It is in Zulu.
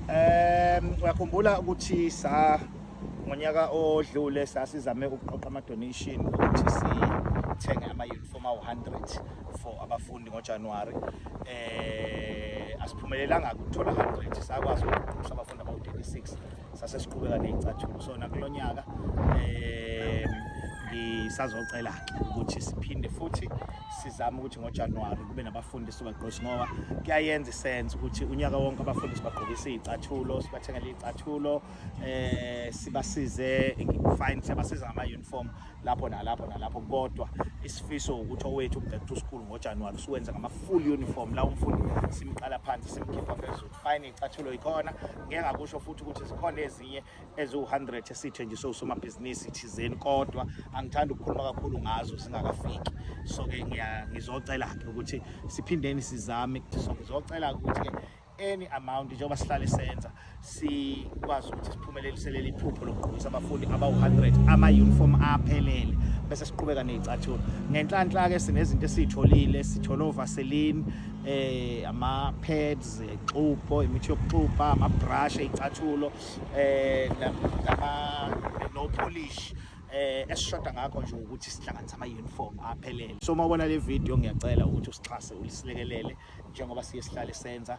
Um uyakhumbula ukuthi sa ngonyaka odlule sasizame ukuqoqa ama-donation ukuthi sithenge ama-uniform awu-100 for abafundi ngojanuwari um asiphumelelanga ukuthola 100 sakwazi ukuqoqisa abafundi abawu-36 sase siqhubeka nezicathulo so nakulonyaka eh ngisazocela ke ukuthi siphinde futhi sizame ukuthi ngoJanuary kube nabafundi sibagqoshi ngoba kuyayenza isense ukuthi unyaka wonke abafundi sibagqokisa izicathulo sibathengele izicathulo eh sibasize fine siyabasiza ngama uniform lapho nalapho nalapho kodwa isifiso ukuthi owethu back to school ngoJanuary siwenza ngama full uniform la umfundi simqala phansi simkhipha phezulu fine icathulo ikhona ngeke ngakusho futhi ukuthi zikhona ezinye eziwu-100 esithenjiswe usomabhizinisi thizeni kodwa angithandi ukukhuluma kakhulu ngazo zingakafiki so-ke ngizocela-ke ukuthi siphindeni sizame ngizocela-ke ukuthi-ke any amount njengoba sihlale senza sikwazi ukuthi Phumelelise leli phupho lokugqokisa abafundi abawu-100 ama-uniform aphelele bese siqhubeka ney'cathulo ngenhlanhla-ke sinezinto esiyitholile sithole ovaseline eh ama-pads exubo imithi yokuxubha ama-brush ey'cathulo eh no polish eh esishoda ngakho nje ukuthi sihlanganise ama-uniform aphelele so uma ubona le video ngiyacela ukuthi usixhase ulisilekelele njengoba siye sihlale senza